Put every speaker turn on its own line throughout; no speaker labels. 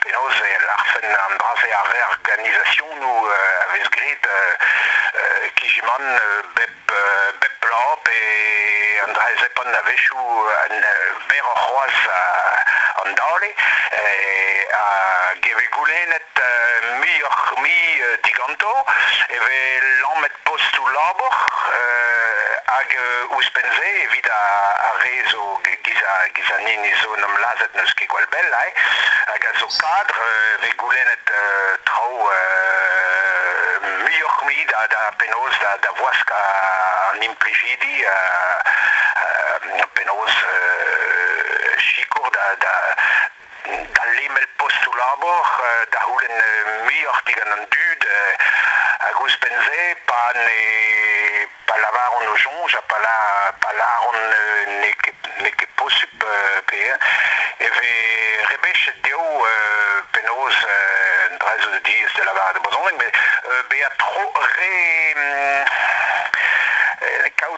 penaos e larfen an dra-se ar reorganizationoù a vez graet kijimant bep, bep bloaz pe an dra-zepan a-wechoù berroc'h c'hoazh an dale hag e vez goulennet muioc'h-mui diganto e vez lamet postoù labour hag ouzhpenn-se evit ar re zo Giz an hini zo 'n em lazhet n'eus ket gwall bell hag a zo padr vez goulennet traoù muioc'h-mui da penaos da wask an implijidi penaos sikour da da lemel postoù-labour, da c'houlenn muioc'h digant an dud, hag ouzhpenn-se, pa ne pa lavaront o soñj ha pa lâront n'eo ket posupl pe e vez rebechet dezho penaos un dra zo diaes da lavaret e brezhoneg, met bezañ tro re kaout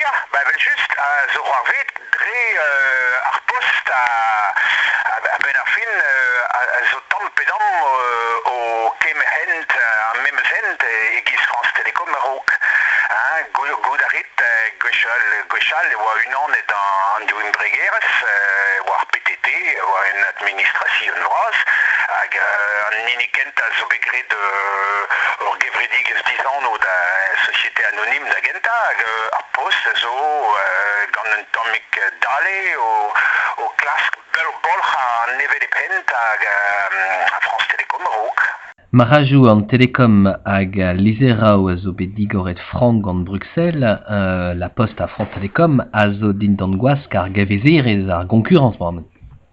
Ya, ba evel-just, zo c'hoarvet dre ar post a-benn ar fin zo tamm pe damm o kemer hent ar memes hent e-giz France Télécom a-raok. Goût a rit gwechall e oa unanet an div embregerezh, e oa ar PTT, e oa un administrasion vras, hag an hini kentañ zo bet graet ur gevredigezh dizanv da Société Un himn da gentañ hag ar post zo gant un tammig dale o klask bolc'hañ an hevelep hent hag France Telecom a-raok. Marc'hajoù an Telecom hag al lizheraoù a zo bet digoret frank gant Bruxelles. la Poste à France Telecom a zo dindan gwask ar gavezerezh, ar goñkurrañs,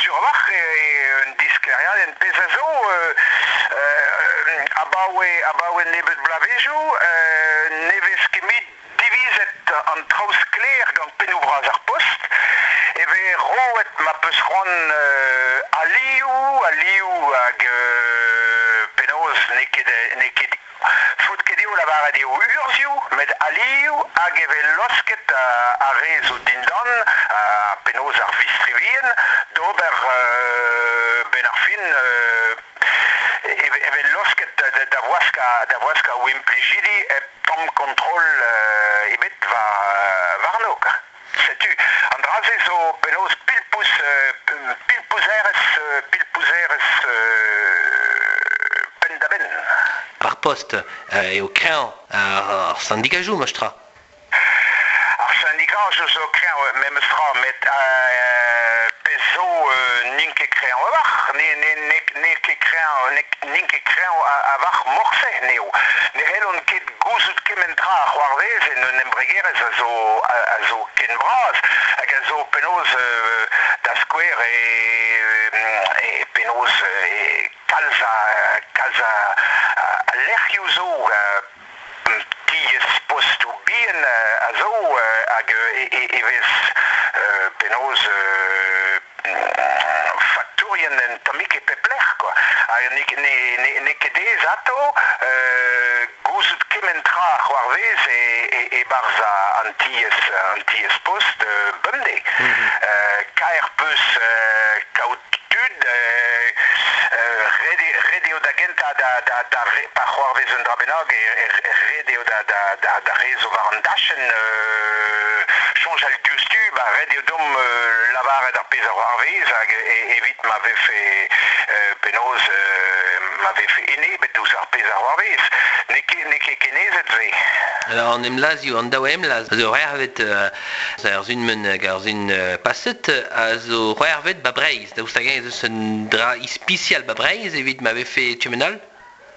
Sur-walc'h eo un disklêriadenn, pezh a zo, abaoe nebeut bloavezhioù ne vez ket divizet an traoù sklaer gant pennoù-bras ar Post, e vez roet ma peus c'hoant alioù, alioù hag penaos n'eo ket Faotket eo lavaret eo urzhioù met alioù hag e vez laosket ar re zo dindan, penaos ar vistrevien, d'ober benn ar fin e vez laosket da waskañ o implijidi hep tamm kontrol ebet warno. Setu, an dra-se zo penaos pilpouz, pilpouzerez, pilpouzerez penn-da-benn. Ar post eo kreñv ar syndicajoù, memes tra. Ar syndicajoù zo kreñv memes tra, met pezh zo n'int ket kreñv a-walc'h, n'eo ket kreñv, n'int ket kreñv a-vac'h morse, n'eo. Ne c'hellont ket gouzout kement tra a c'hoarvez en un embregerezh a zo ken bras hag a zo penaos, da skouer, penaos kalz a lec'hioù zo, tiez postoù bihan a zo hag e vez penaos faktourien anatomik e pep lec'h. Quoi. Hag n'eo ket aes atav gouzout kement tra a c'hoarvez e-barzh an tiez-post bemdez. Kaer 'peus kaout tud, ret eo da gentañ pa c'hoarvez un dra bennak, ret eo da rezo war an dachenn soñjal diouzhtu, ba ret eo deomp lavaret ar pezh a c'hoarvez hag evit ma vefe penaos ma vefe enebet ouzh ar pezh a c'hoarvez, n'eo ket n'eo ket kenezet se. Alors an emlazioù, an daou emlazh a zo c'hoarvet ar Zunmen hag ar Zun paset a zo c'hoarvet ba Breizh, daoust hag-eñ ez eus un dra ispisial ba Breizh evit ma vefe tu-menol?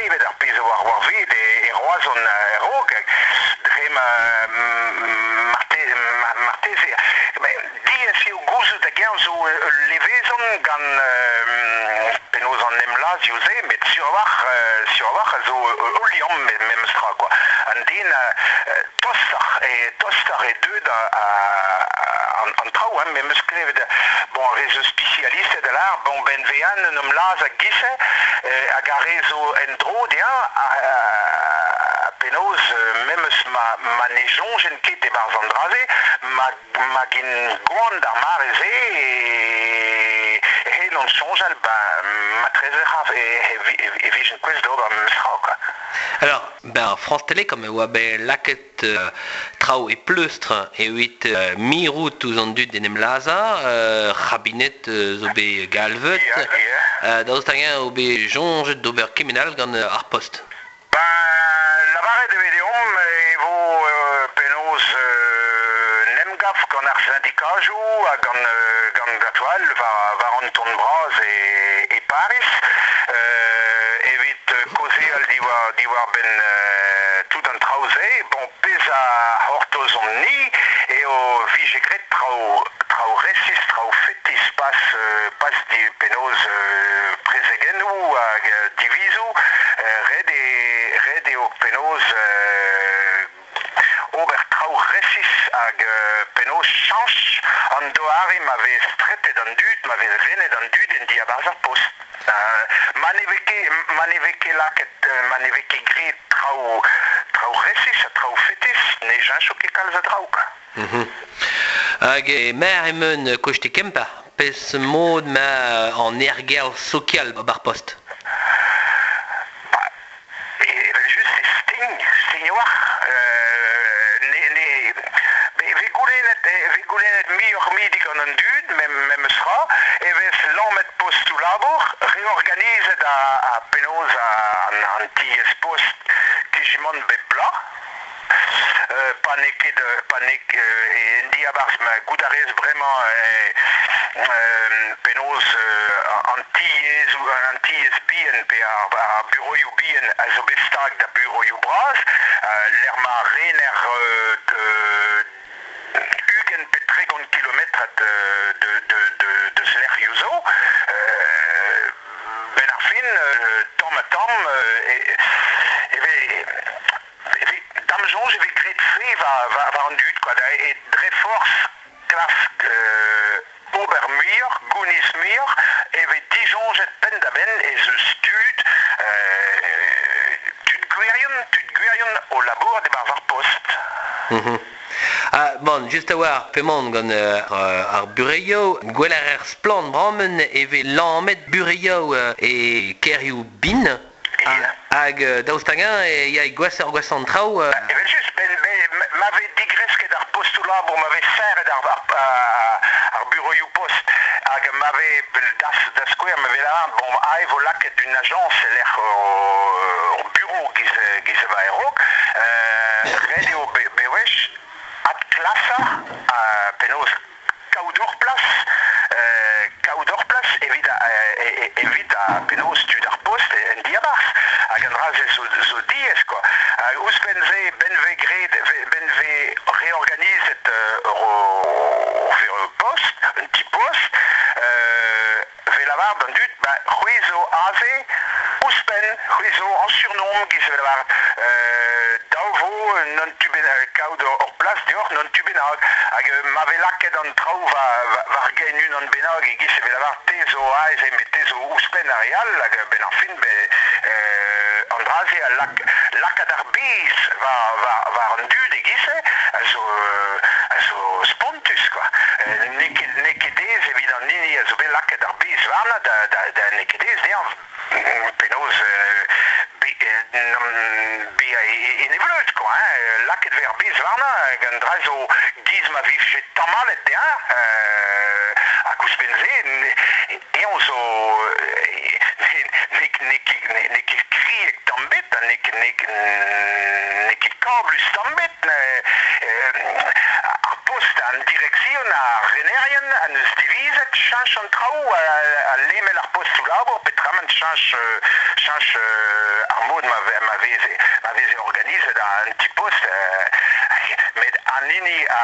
Evit ar pezh a oa c'hoarvezet e Roazhon a-raok, dre ma marteze diaes eo gouzout hag-eñ zo ul levezon gant penaos an emlazioù-se, met sur-walc'h a zo ul liamm memes tra quoi. An den tostoc'h e deuet an traoù, memes klevet Bon, re zo spisialisted a lâr, bon, ben-vean un homme lazh a gife, hag ar re zo en-dro dezhañ, ha penaos, memes ma ne soñjen ket e-barzh an dra-se, ma gen goan d'ar mare-se, hen on soñjal, ben, matreze c'haf, e vijent kouest d'ober memes tra, quoi. Alors, ben, ar France Télé, comme e oa bet lakaet traoù e pleustr evit mirout ouzh an dud d'en em lazhañ. Rabinet zo bet galvet. Daoust hag-eñ eo bet soñjet d'ober kement all gant ar Post? Ba, lavaret e ve deomp e vo penaos un emgav gant ar sindikajoù ha gant a-toal war an ton bras e Pariz evit kaozeal diwar-benn tout an traoù-se. Bon, pezh a c'hortozomp-ni eo vije graet traoù resis, traoù fetis pas penaos prezegennoù hag divizoù. Ret eo penaos ober traoù resis hag penaos chañch an doare ma vez stretet an dud, ma vez renet an dud en diabarzh ar post. Ma ne vez ket, ma ne vez ket lakaet, ma ne vez ket graet traoù, traoù resis ha traoù fetis, ne cheñcho ket kalz a draoù. Hag e maer emaon koste Kemper, pezh mod ma an ergerzh sokial bar post. evel-just e stign, stignoach, ne, vez goulennet, vez goulennet muioc'h-mui digant an dud, memes tra, e vez lamet postoù-labour, reorganizet ha penaos an tiez-post, kijimant bep bloaz, pa n'eo ket pa n'eo en diabarzh ma goût a rez bremañ penaos an tiez an tiez bihan pe ar buroioù bihan a zo bet stag da buroioù bras lec'h ma rener ugent pe tregont kilometrad deus lec'hioù zo benn ar fin tamm ha tamm e vez evit da'm soñj e vez graet fri war an dud kwa, e dre forzh klask ober muioc'h, gounis muioc'h, e vez disoñjet penn-da-benn ez eus tud, tud gwirion, tud gwirion o labourat e-barzh ar post. Mhm. Ha, bon, just a-walc'h p'emaon gant ar bureioù, gwell a rer splann bremañ e vez lamet bureioù e kêrioù bin Hag daoust hag-eñ e ya gwasoc'h an traoù Evel-just, ma vez digresket ar postoù-labour, ma vez serret ar buroioù-post hag ma vez, da skouer, ma vez lavaret bon aze 'vo lakaet une agence e-lec'h hor buro giz a-raok, ret eo bewech adklasañ penaos kaout hor plas, kaout hor plas evit evit penaos tud ar post en diabarzh hag an dra-se zo diaes quoi. Hag ouzhpenn-se ben vez graet ben vez reorganizet ur post un ti post a vez lavaret d'an dud, ba, c'hwi zo aze, ouzhpenn, c'hwi zo añsurnomp giz vez lavaret, dav vo n'an tu bennak kaout hor plas deoc'h, n'an tu bennak, hag ma vez lakaet an traoù war gein unan bennak e-giz e vez lavaret te zo aze, met te zo ouzhpenn ar re all, hag a-benn ar fin, an dra-se a lak lakaat ar biz war an dud e-giz-se a zo spontus. spontus kwa. N'eo ket aes evit an hini a zo bet lakaet ar bez warnañ da n'eo ket aes dezhañ penaos bezañ enebeulet kwa lakaet vez ar bez warnañ hag an dra zo 'giz ma vije tamallet dezhañ ha kouzhpenn-se piv zo n'eo ket kriek tamm bet ha n'eo ket kablus tamm bet ar post an direksion ar renerien a neus divizet cheñch an traoù ha lemel ar postoù labour petramant cheñch ar mod ma veze organizet an ti-post met an hini a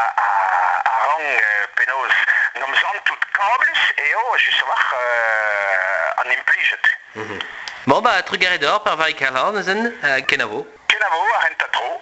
rank penaos Santout kablus eo just-walc'h an implijet. Bon, bah, trugarez d'hor, par Vai Calan, ezen, kenavo. Kenavo, ar c'hentañ tro.